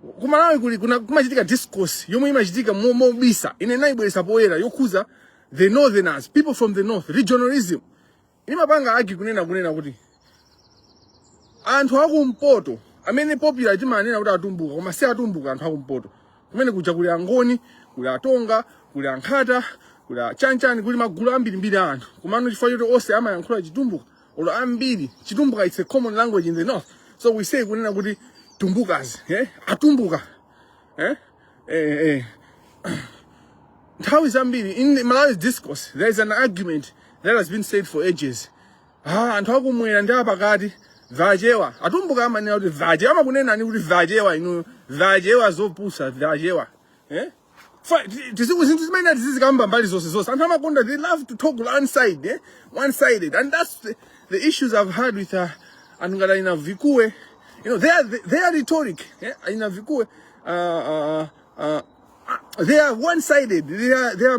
kumalawi kuli kuna kumachitika discourse yomwe imachitika mo- mobisa ine naibweresa poyera yokhuza the northerners people from the north regionalism imapanga argue kunena kunena kuti anthu akumpoto amene popular timanena kuti atumbuka koma si atumbuka anthu akumpoto kumene kuja kuli angoni kuli atonga kuli ankhata kuli achanchani kuli magulu ambirimbiri a anthu komano chifukwa choti onse amayankhula chitumbuka olo ambiri chitumbuka it's a common language in the north so we say kunena kuti tumbukas eh? atumbuka eh? Eh, eh. nthawi zambiri in the malawi's discourse there is an argument that has been said for ages ah, anthu akumwera ndi apakati vachewa atumbuka amanena kuti vachewa amakunenani kuti vachewa inuyo vachewa zopusa vachewa eh? Fa- ti- tiziku- zinthu zimene tizizikamba mbali zonse zonse anthu amakonda they love to talk one side eh? one sided and that's the, the issues i've had with uh, anthu ngati aina vikue you know their, their rhetoric eh? aina vikue uh, uh, uh, uh, they are one sided they are, they are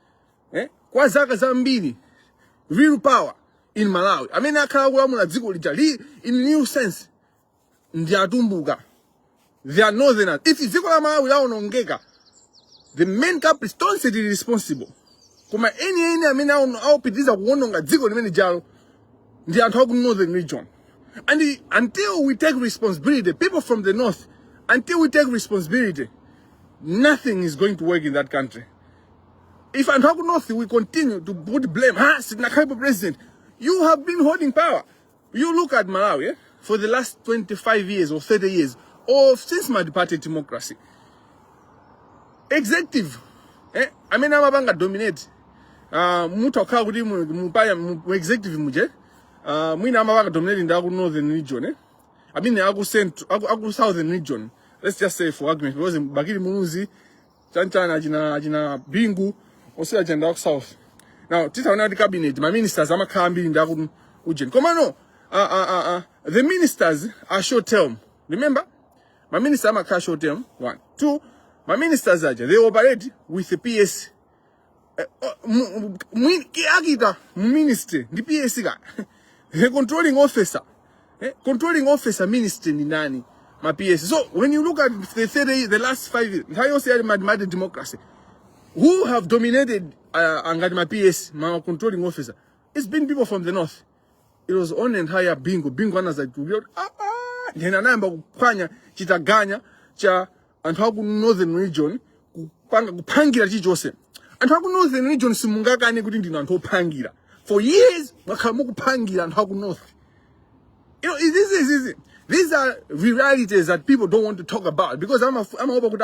eh? kwa zaka zambiri real power in malawi amene akhala akulamula dziko lijali in true sense ndi atumbuka they are northerners if dziko la malawi laonongeka the main culprit tonse tili responsible koma eni eni amene aono- akupitiriza kuononga dziko limene jalo ndi anthu aku northern region and i- until we take responsibility people from the north until we take responsibility nothing is going to work in that country If I'm talking north, we continue to put blame. Ha, Sidnakaipo president. You have been holding power. You look at Malawi eh, for the last 25 years or 30 years, or since my party democracy. Executive, eh, I mean, I'm about to dominate. Uh, mutu akhala kuti mu- mupaya mu mu executive muje uh, mwina amaba akadominate ndi aku northern region eh? I mean aku central aku, aku southern region let's just say for argument because Bakili Muluzi chanchani achina achina bingu onse aja ndi aku south now titaona kuti cabinet ma ministers amakhala ambiri ndi aku ujeni komano uh, uh, uh, uh, the ministers are short term remember ma minister amakhala short term one two ma ministers aja they operate with the ps Eh, oh, mu- mu- mwini- ki- akita mu ministry ndi ps ka the controlling officer eh, controlling officer ministry ndi ndani ma ps so when you look at the, thirty- the last five years nthawi yonse ya multiparty democracy who have dominated uh, ngati ma ps ma controlling officer it's been people from the north it was only nthawi ya bingu bingu anazatulukira kuti "Ah, ah," then anayamba kuphwanya chitaganya cha anthu aku northern region kupanga kuphangira chilichonse anthu aku northern region simungakane kuti ndinu anthu ophangira for years mwakhala mukuphangira anthu aku north you know, this is, this is these are realities that people don't want to talk about because ama- amaopa kuti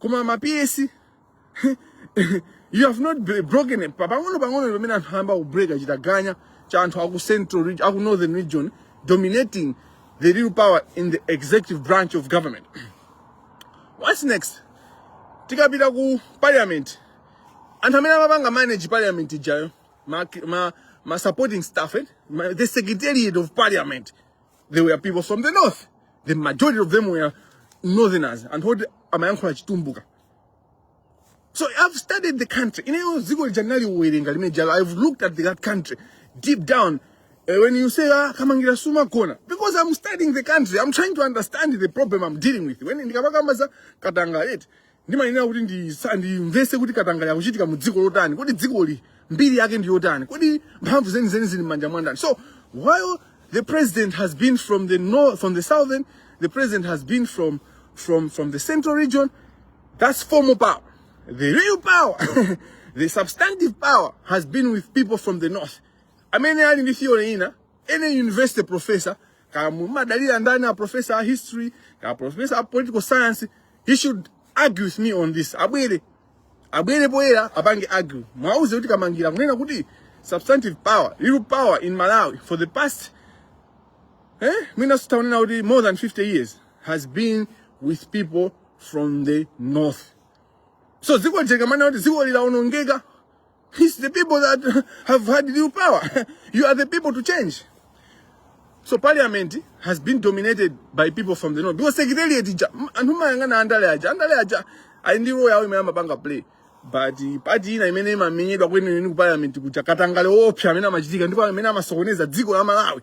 koma ma PS you have not br- broken it. Pa- pang'ono pang'ono ndi pamene anthu ayamba kubreaka chitaganya cha anthu aku central region, aku northern region dominating the real power in the executive branch of government what's next tikapita ku parliament anthu amene amapanga manage parliament ijayo ma, ma, ma supporting staff eh? ma, the secretariat of parliament they were people from the north the majority of them were northerners anthu oti amayankhula chitumbuka so i've studied the country ineyo dziko lija ndinaliwerenga limene lijalo i've looked at that country deep down Eh, when you say ah, kamangira sumagona because i'm studying the country i'm trying to understand the problem i'm dealing with when ndikapakamba za katangale ndimayenera kuti ndisa- ndimvese kuti katangale akuchitika mu dziko lotani kodi dzikoli mbiri yake ndi yotani kodi mphamvu zenizeni zili m'manja mwa ndani so while the president has been from the north from the southern the president has been from from from the central region that's formal power the real power the substantive power has been with people from the north amene ali ndi theory in any university professor kaya mumadalira ndani a professor a history kaya professor a political science he should argue with me on this abwere abwere poyera apange argue mwauze kuti kamangira akunena kuti substantive power real power in malawi for the past eh mwina zitatha kunena kuti more than 50 years has been with people from the north so dziko lija tikamanena kuti dziko lidawonongeka It's the people that have had real power. you are the people to change. So parliament has been dominated by people from the north. Because secretariat ija, anthu mumayang'ana andale aja, andale aja, ali ndi role yawo imene amapanga play. But part ina imene imamenyedwa kwenikweni ku parliament kuja katangale woopsa amene amachitika ndipo amene amasokoneza dziko la Malawi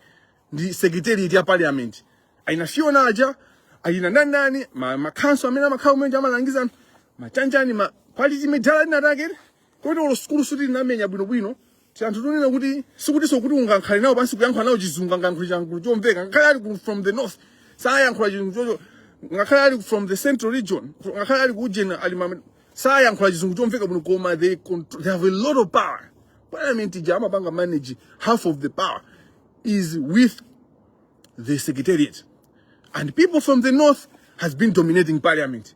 ndi secretariat ya parliament. Aina Fiona aja, aina ndani ndani, ma, ma council amene amakhala kumene kuja amalangiza anthu, machanjani, ma quality madala inayake. koti olo sukulu sikuti tinamenya bwinobwino tianthu tonena kuti sikutiso kuti ungankhale nawo pansi kuyankhula nawo chizungu angayankhula chizungu chomveka ngakhale ali ku- from the north sayankhula chizungu chocho ngakhale ali from the central region ngakhale ali ku ujeni ali amene sayankhula chizungu chomveka bwino koma they, contr- they have a lot of power parliament ija amaipanga manage half of the power is with the secretariat and people from the north has been dominating parliament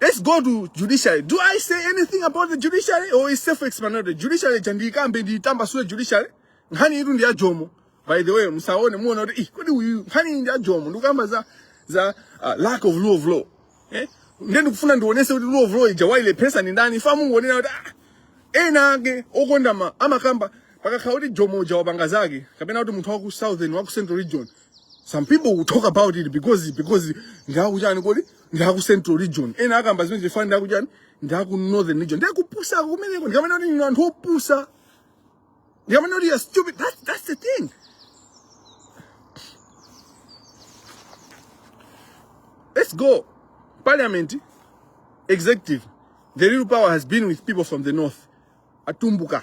Let's go to judiciary. Do I say anything about the judiciary or is self-explanatory? Judiciary ija ndikambe nditambasule judiciary. Nkhani ili ndi ya jomo. By the way, musaone muona kuti eh kodi uyu nkhani ndi ya jomo ndikamba za za uh, lack of rule of law. Eh? Ndiye ndikufuna ndionese kuti rule of law ija wailepheretsa ndi ndani chifukwa mungonena kuti ah ena ake okonda ma amakamba pakakhala kuti jomo uja wapanga zake kapena kuti munthu wa ku southern wa ku central region some people will talk about it because because ndi akujani kodi ndi aku central region ena akamba zimenezi chifukwa ndi akujani ndi aku northern region ndiye kupusa kumeneko ndikamanena kuti inu anthu opusa ndikamanena kuti you're stupid that, that's the thing let's go parliament executive the real power has been with people from the north atumbuka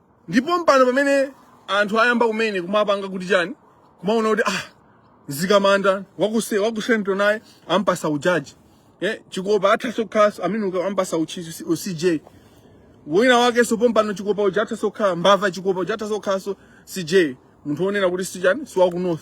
ndi pompano pamene anthu ayamba kumene kumapanga kuti chani kumaona kuti ah mzikamanda waku ce- waku central naye ampasa ujaji eh chikopa athaso khalaso amene uka- ampasa u chief u CJ wina wakenso pompano chikopa uja athaso khala mbava chikopa uja athaso khalaso CJ munthu onena kuti si chani si wa ku north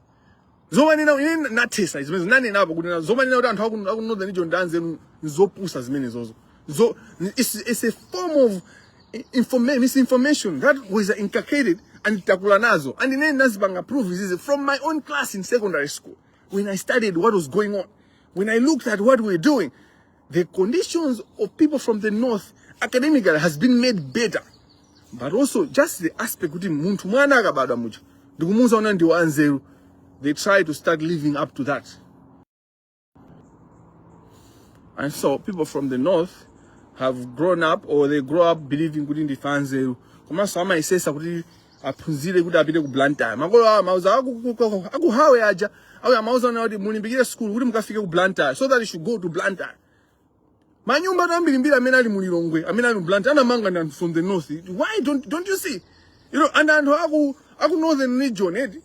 zomanena ine nathesa zimene nanenapo kuti zomanena kuti anthu aku northern region ndi anzeru nzopusa zimenezozo so it's, it's a form of informa misinformation that was inculcated and takula nazo and ine ndinazipanga prove izizi from my own class in secondary school when i studied what was going on when i looked at what we were doing The conditions of people from the north academically has been made better but also just the aspect kuti munthu mwana akabadwa muja ndikumuuza ona ndi wanzeru they try to start living up to that and so people from the north have grown up or they grow up believing kuti ndife anzeru komanso amayesesa kuti aphunzire kuti apite ku blantyre makolo awo amauza aku- ku- ku- akuhawe aja awo amauza ona kuti mulimbikire sukulu kuti mukafike ku blantyre so that you should go to blantyre manyumba anu ambirimbiri amene ali mu lilongwe amene ali mu blantyre anamanga ndi anthu from the north why don't, don't you see you know and anthu aku aku northern region eti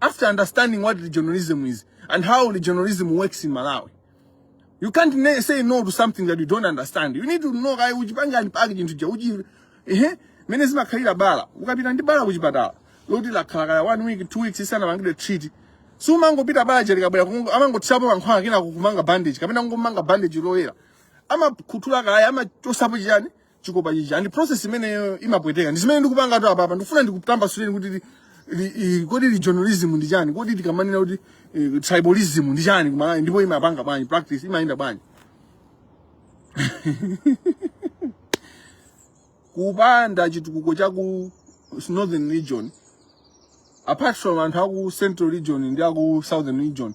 after understanding what regionalism is and how regionalism works in Malawi. You can't ne- say no to something that you don't understand. You need to know kaya uchipanga unpack chinthu cha uchi ehe mene zimakhalira bala. Ukapita ndi bala kuchipatala. Loti lakhala kaya one week, two weeks lisanapangidwe treat. Sumangopita bala lija likabwera kungo amangotsapo mankhwala kenako kumanga bandage kapena kungomanga bandage loyera. Amakhuthula kaya amachosapo chiyani? chikopa chichi and process imeneyo imapweteka ndi zimene ndikupangatu apapa ndikufuna ndikutambasuleni kuti li- li- i- kodi regionalism ndi chani kodi tikamanena kuti eh, tribalism ndi chani kumalawi ndipo imapanga bwanji practice imayenda bwanji kupanda chitukuko cha ku northern region apart from anthu aku central region ndi aku southern region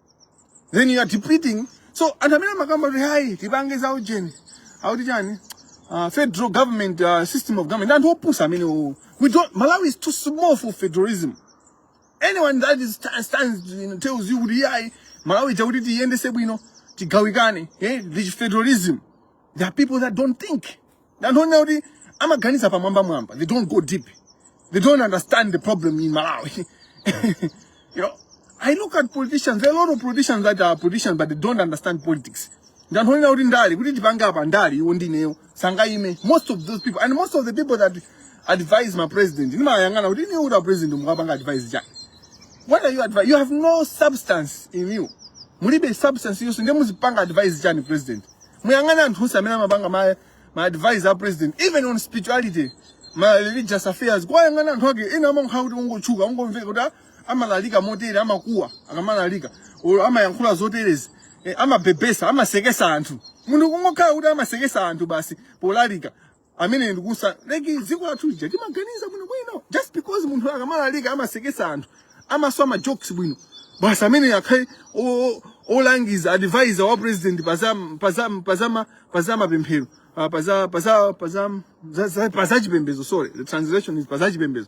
then you are depleting so anthu amene amakamba kuti ayi tipange za ujeni akuti chani uh, federal government uh, system of government anthu opusa amenewo we don't malawi is too small for federalism anyone that is sta- stands you know, tells you kuti yayi malawi chakuti tiyendese bwino tigawikane eh, this federalism there are people that don't think anthu onena kuti amaganiza pamwamba mwamba they don't go deep they don't understand the problem in malawi you know i look at politicians there are a lot of politicians that are politicians but they don't understand politics ndi anthu onena kuti ndale kuti tipange apa ndale iwo ndi ineyo sangayime most of those people and most of the people that advise ma president ndimayang'ana kuti ineyo kuti a president mukuwapanga advise chani what are you advising you have no substance in you mulibe substance yonse ndiye muzipanga advise chani president muyang'ane anthu onse amene amapanga ma, ma advisor a president even on spirituality ma religious affairs kuwayang'ana anthu ake ena amakhala kuti ungotchuka ungomveka kuti ah, amalalika motere amakuwa akamalalika or amayankhula zoterezi eh, amabebesa amasekesa anthu munthu kungokhala kuti amasekesa anthu basi polalika amene ndikusalaika dziko lathu lija timaganiza bwino bwino just because munthu akamalalika amasekesa anthu amaswa ma jokes bwino basi amene akhale o- o- olangiza advisor wa president pazam pazam pazama pazama pemphero ah, paza paza paza za- za- pazachipembezo sorry the translation is pazachipembezo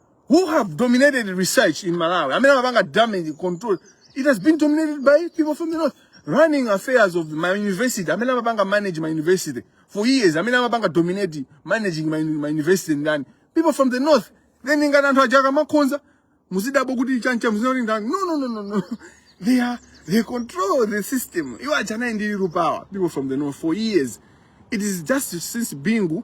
who have dominated research in Malawi, amene amapanga damage control, it has been dominated by people from the north. Running affairs of my university, amene amapanga manage my university for years, amene amapanga dominate managing my, my university ndani, people from the north. Then ngati anthu aja akamakhonza, muzidabwa kuti chancha muzidabwa ndani. No, no, no, no, no. They are, they control the system. You are jana ndi power, people from the north for years. It is just since Bingu